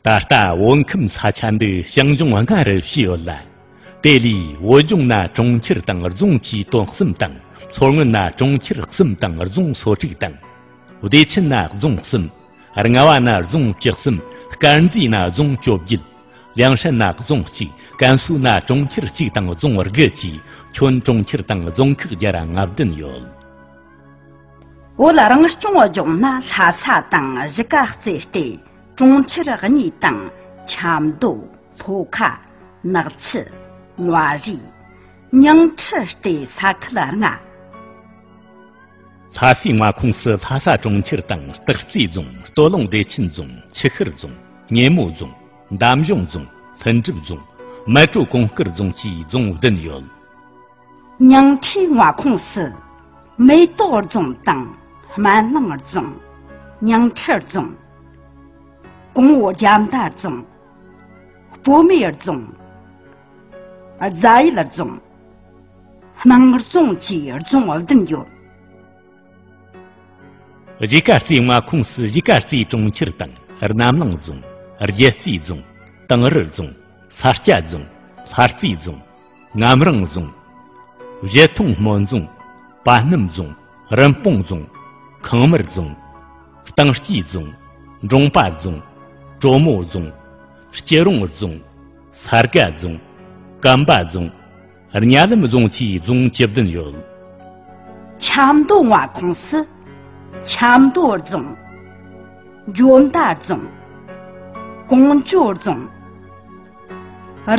ད་ལྟ་བོད་ཁམས་ས་ཆ་འདི་ཞིང་ལྗོངས་ལྔ་རུ་ཕྱེ་ཡོད་ལ། དེ་ལས་བོད་ལྗོངས་ན་གྲོང་ཁྱེར་དང་རྫོང་བཅས་དོན་གསུམ་དང་མཚོ་སྔོན་ན་གྲོང་ཁྱེར་གསུམ་དང་རྫོང་སོ་དྲུག་དང། བདེ་ཆེན་ན་རྫོང་གསུམ། རྔ་བ་ན་རྫོང་བཅུ་གསུམ། དཀར་མཛེས་ན་རྫོང་བཅོ་བརྒྱད། ལེང་ཧྲན་ན་རྫོང་གཅིག་ཀན་སུའུ་ན་གྲོང་ཁྱེར་གཅིག་དང་རྫོང་དགུ་བཅས་ཁྱོན་གྲོང་ཁྱེར་དང་རྫོང་ཁག་བརྒྱ་ར་ལྔ་བདུན་ཡོད། བོད་རང་སྐྱོང་ལྗོངས་ན་ལྷ་ས་དང་གཞིས་ཀ་རྩེ་ལྟེ་གྲོང་ཁྱེར་གཉིས་དང་ཆབ་མདོ་ལྷོ་ཁ་ནག་ཆུ་མངའ་རིས་ཉིང་ཁྲི་ལྟེ་ས་ཁུལ་ལྔ། ལྷ་སའི་མངའ་ཁོངས་སུ་ལྷ་ས་གྲོང་ཁྱེར་དང་སྟག་རྩེ་རྫོང་སྟོད་ལུང་བདེ་ཆེན་རྫོང་ཆུ་ཤུར་རྫོང་སྙེ་མོ་རྫོང་འདམ་གཞུང་རྫོང་ལྷུན་གྲུབ་རྫོང་མལ་གྲོ་གོང་དཀར་རྫོང་བཅས་རྫོང་བདུན་ཡོད། ཉིང་ཁྲིའི་མངའ་ཁོངས་སུ་མེ་ཏོག་རྫོང་དང་སྨན་བླངས་རྫོང། ཉིང་ཁྲི་རྫོང། གོང་འོག་རྒྱ་མདའ་རྫོང། སྤོ་མེ་རྫོང། རྫ་ཡུལ་རྫོང། སྣང་རྫོང་བཅས་རྫོང་བདུན་ཡོད། གཞིས་ཀ་རྩེའི་མངའ་ཁོངས་སུ་གཞིས་ཀ་རྩེ་གྲོང་ཁྱེར་དང་རྣམ་གླིང་རྫོང། རྒྱལ་རྩེ་རྫོང། ཏང་རི་རྫོང། ས་སྐྱ་རྫོང། ལྷ་རྩེ་རྫོང། ངམ་རང་རྫོང། བཞི་མཐོང་སྨོན་རྫོང། པ་སྣུམ་རྫོང། རིན་སྤུངས་རྫོང། ཁང་མིར་རྫོང། གཏང་སྐྱིས་རྫོང། འབྲོང་པ་རྫོང། གྲོ་མོ་རྫོང། སྐྱི་རོང་རྫོང། ས་དགའ་རྫོང། སྐམ་པ་རྫོང། གཉའ་ལམ་རྫོང་བཅས་རྫོང་བཅུ་བདུན་ཡོད། ཆབ་མདོ་མངའ་ཁོངས་སུ། ཆབ་མདོ་རྫོང། འཇོ་མདའ་རྫོང། གོང་ཇོ་རྫོང།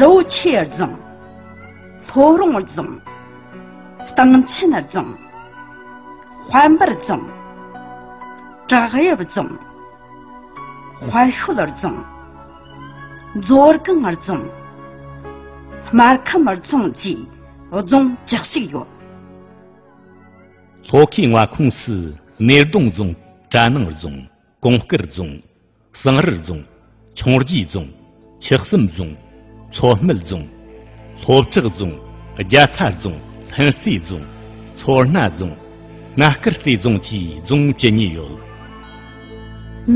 རོ་ཆས་རྫོང། ལྷོ་རོང་རྫོང། སྟང་ཆེན་རྫོང། དཔལ་འབར་རྫོང། བྲག་གཡབ་རྫོང། དཔལ་ཤོད་རྫོང། མཛོ་སྒང་རྫོང། སྨར་ཁམས་རྫོང་བཅས་རྫོང་བཅུ་གཅིག་ཡོད། ལྷོ་ཁའི་མངའ་ཁོངས་སུ་སྣེ་གདོང་རྫོང། གྲ་ནང་རྫོང། གོང་དཀར་རྫོང། གསང་རིར་རྫོང། ཆུང་རྒྱའི་རྫོང། ཆུ་གསུམ་རྫོང། མཚོ་སྨད་རྫོང། ལྷོ་བྲག་རྫོང། རྒྱ་ཚྭ་རྫོང། ལྷུན་རྩེ་རྫོང། མཚོ་སྣ་རྫོང། སྣ་དཀར་རྩེ་རྫོང་བཅས་རྫོང་བཅུ་གཉིས་ཡོད།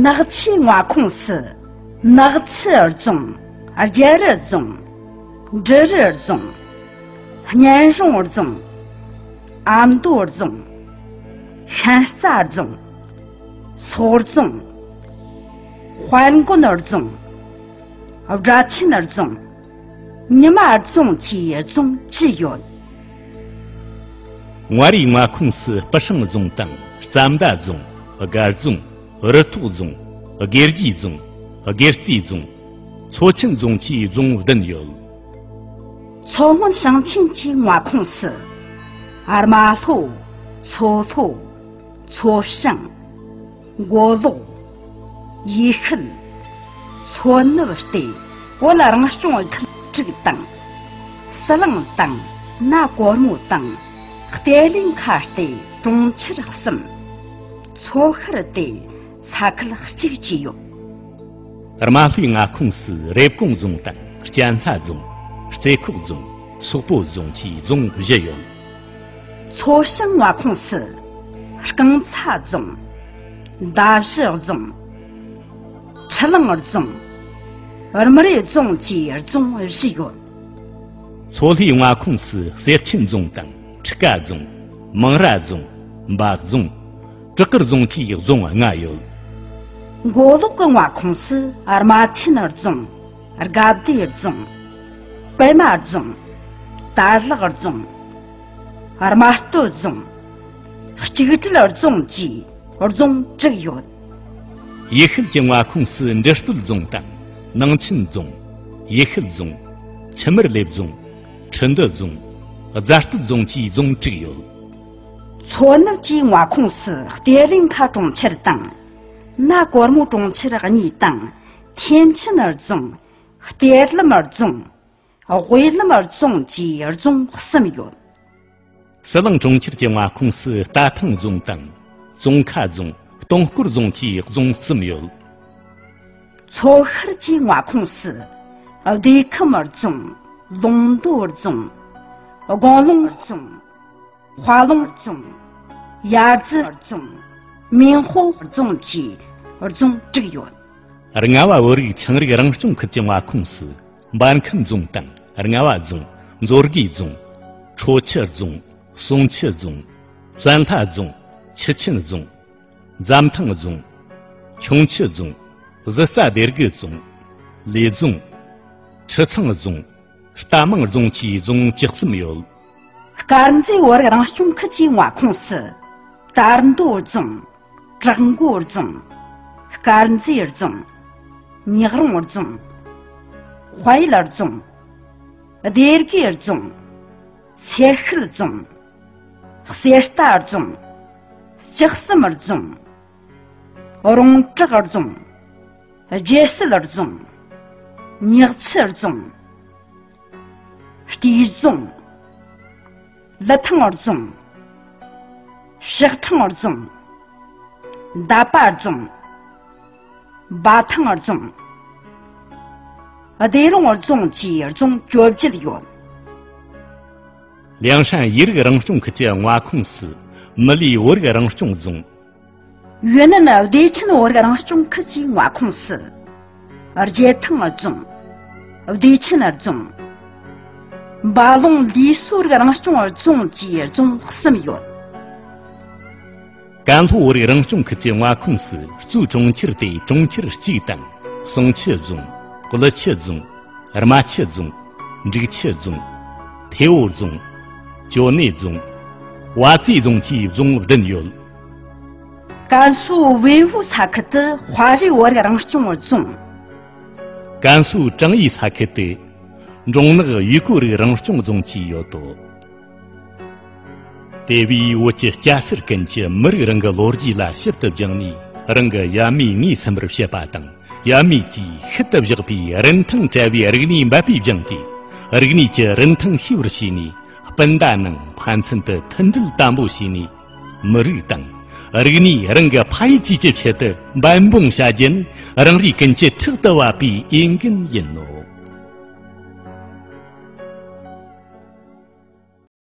ནག་ཆུའི་མངའ་ཁོངས་སུ། ནག་ཆུ་རྫོང། རྒྱལ་རི་རྫོང། འབྲི་རུ་རྫོང། སྙན་རོང་རྫོང། ཨ་མདོ་རྫོང། ཤན་རྩ་རྫོང། སོག་རྫོང། དཔལ་མགོན་ནོར་རྫོང། སྦྲ་ཆེན་ནོར་རྫོང། ཉི་མ་རྫོང་བཅས་རྫོང་བཅུ་ཡོད། ངྷ་རིའི་མངའ་ཁོངས་སུ་སྤུ་ཧྲེང་རྫོང་དང་རྩ་མདའ་རྫོང། དགའ་རྫོང། རི་ཐོག་རྫོང། སྒེར་རྒྱའི་རྫོང། སྒེར་རྩེའི་རྫོང། མཚོ་ཆེན་རྫོང་བཅས་རྫོང་བདུན་ཡོད། མཚོ་སྔོན་ཞིང་ཆེན་གྱི་མངའ་ཁོངས་སུ། རྨ་ལྷོ། མཚོ་ལྷོ། མཚོ་བྱང། མགོ་ལོག། ཡུལ་ཤུལ། མཚོ་ནུབ་སྟེ་གོ་ལ་རང་སྐྱོང་ཨུ་ཁུལ་དྲུག་དང། སི་ལིང་དང་ན་གོར་མོ་དང་ཏེ་ལི་མཁའ་སྟེ་གྲོང་ཁྱེར་གསུམ། མཚོ་ཤར་སྟེ་ས་ཁུལ་གཅིག་བཅས་ཡོད། རྨ་ལྷོའི་མངའ་ཁོངས་སུ་རེབ་གོང་རྫོང་དང་སྐྱ་མཚར་རྫོང། རྩེ་ཁོག་རྫོང། སོག་པོ་རྫོང་བཅས་རྫོང་བཞི་ཡོད། མཚོ་བྱང་བ་ཁོངས་སུ་རྐང་ཚ་རྫོང། མདའ་བཞི་རྫོང། ཁྲི་ལང་རྫོང། རྨ་རི་རྫོང་བཅས་རྫོང་བཞི་ཡོད། མཚོ་ལྷོའི་མངའ་ཁོངས་སུ་གསེར་ཆེན་རྫོང་དང་ཁྲི་ཀ་རྫོང། མང་ར་རྫོང། འབའ་རྫོང། བྲག་དཀར་རྫོང་བཅས་རྫོང་ལྔ་ཡོད། མགོ་ལོག་གི་མངའ་ཁོངས་སུ་རྨ་ཆེན་རྫོང། དགའ་བདེ་རྫོང། པད་མ་རྫོང། དར་ལག་རྫོང། རྨ་སྟོད་རྫོང། གཅིག་སྒྲིལ་རྫོང་བཅས་རྫོང་དྲུག་ཡོད། ཡུལ་ཤུལ་གྱི་མངའ་ཁོངས་སུ་འབྲི་སྟོད་རྫོང་དང། ནང་ཆེན་རྫོང། ཡུལ་ཤུལ་རྫོང། ཁྱི་མིར་ལེབ་རྫོང། ཁྲི་འདུ་རྫོང། རྫ་སྟོད་རྫོང་བཅས་རྫོང་དྲུག་ཡོད། མཚོ་ནུབ་ཀྱི་མངའ་ཁོངས་སུ་གཏེར་ལིང་ཁ་གྲོང་ཁྱེར་དང། སྣ་གོར་མོ་གྲོང་ཁྱེར་གཉིས་དང། མཁན་ཆེན་རྫོང། གཏེར་ལམ་རྫོང། དབུས་ལམ་རྫོང་བཅས་རྫོང་གསུམ་ཡོད། སི་ལིང་གྲོང་ཁྱེར་གྱི་མངའ་ཁོངས་སུ་རྟ་ཐང་རྫོང་དང། ཙོང་ཁ་རྫོང། སྟོང་སྐོར་རྫོང་བཅས་རྫོང་གསུམ་ཡོད། མཚོ་ཤར་གྱི་མངའ་ཁོངས་སུ། སྡེ་ཁམས་རྫོང། ལུང་མདོ་རྫོང། དགོང་ལུང་རྫོང། བྷ་ལུང་རྫོང། ཡར་རྫི་རྫོང། མིན་ཧོ་རྫོང་བཅས་རྫོང་དྲུག་ཡོད། རྔ་བ་བོད་རིགས་ཆིངས་རིག་རང་སྐྱོང་ཁུལ་གྱི་མངའ་ཁོངས་སུ་འབར་ཁམས་རྫོང་དང་རྔ་བ་རྫོང། མཛོ་དགེ་རྫོང། ཁྲོ་ཆུ་རྫོང། ཟུང་ཆུ་རྫོང། བཙན་ལྷ་རྫོང། ཆུ་ཆེན་རྫོང། འཛམ་ཐང་རྫོང། ཁྱུང་ཆུ་རྫོང། གཟི་རྩ་སྡེ་དགེ་རྫོང། ལི་རྫོང། ཁྲི་ཚང་རྫོང། རྟ་མང་རྫོང་བཅས་རྫོང་བཅུ་གསུམ་ཡོད། དཀར་མཛེས་བོད་རང་སྐྱོང་ཁུལ་གྱི་མངའ་ཁོངས་སུ། དར་མདོ་རྫོང། བྲག་མགོ་རྫོང། དཀར་མཛེས་རྫོང། ཉག་རོང་རྫོང། དཔལ་ཡུལ་རྫོང། སྡེ་དགེ་རྫོང། སེར་ཤུལ་རྫོང། གསེར་རྟ་རྫོང། སྤྱི་གསུམ་རྫོང། རོང་བྲག་རྫོང། རྒྱལ་སྲིད་རྫོང། ཉག་ཆུ་རྫོང། སྐྱིལ་བཟུང། ལི་ཐང་བར་བཟུང། ཞག་འཕྲང་བར་བཟུང། འདབ་པ་བར་བཟུང། འབའ་ཐང་བར་བཟུང། བདེ་རོང་བར་བཟུང་བཅས་བརྫོང་བཅོ་བརྒྱད་ཡོད། ལིའང་ཧྲན་ཡིག་རིགས་རང་སྐྱོང་ཁུལ་གྱི་མངའ་ཁོངས་སུ། མི་ལིའི་བོད་རིགས་རང་སྐྱོང་རྫོང། ཡོན་ནན་བདེ་ཆེན་བོད་རིགས་རང་སྐྱོང་ཁུལ་གྱི་མངའ་ཁོངས་སུ། རྒྱལ་ཐང་རྫོང། བདེ་ཆེན་རྫོང། འབའ་ལུང་ལི་སོགས་རིགས་རང་སྐྱོང་རྫོང་བཅས་རྫོང་གསུམ་ཡོད། ཀན་ལྷོ་བོད་རིགས་རང་སྐྱོང་ཁུལ་གྱི་མངའ་ཁོངས་སུ་གཙོས་གྲོང་ཁྱེར་དེ་གྲོང་ཁྱེར་གཅིག་དང། ཟུང་ཆུ་རྫོང། ཀླུ་ཆུ་རྫོང། རྨ་ཆུ་རྫོང། འབྲུག་ཆུ་རྫོང། ཐེ་བོ་རྫོང། ཅོ་ནེ་རྫོང། བ་ཙི་རྫོང་བཅས་རྫོང་བདུན་ཡོད། ཀན་སུའུ་ཝེ་ཧུའུ་ས་ཁུལ་དུ་དཔའ་རིས་བོད་རང་སྐྱོང་རྫོང། ཀན་སུའུ་ཀྲང་ཡི་ས་ཁུལ་དུ། འབྲོང་ནག་ཡུས་ཀོའུ་རིགས་རང་སྐྱོང་རྫོང་བཅས་ཡོད་དོ། དེ་བས་བོད་ཀྱི་སྐྱ་སེར་ཀུན་གྱིས་མི་རིགས་རང་གི་ལོ་རྒྱུས་ལ་ཞིབ་ཏུ་བསྒྱིངས་ནས་རང་གི་ཡབ་མེས་ངོས་ཟིན་པར་བྱེད་པ་དང་ཡབ་མེས་ཀྱིས་ཤུལ་དུ་བཞག་པའི་རིན་ཐང་བྲལ་བའི་རིག་གནས་འབད་པས་སྦྱངས་ཏེ་རིག་གནས་ཀྱི་རིན་ཐང་ཤེས་པར་བྱས་ནས་སྤུན་ཟླ་རྣམས་ཕན་ཚུན་དུ་མཐུན་སྒྲིལ་དམ་པོ་བྱས་ནས་མི་རིགས་དང་རིག་གནས་རང་གི་ཕ་ཡུལ་བཅས་ཀྱི་ཆེད་དུ་འབད་འབུངས་བྱ་རྒྱུ་ནི་རང་རེ་ཀུན་གྱི་ཕྲག་ཏུ་བབས་པའི་འོས་འགན་ཡིན་ནོ།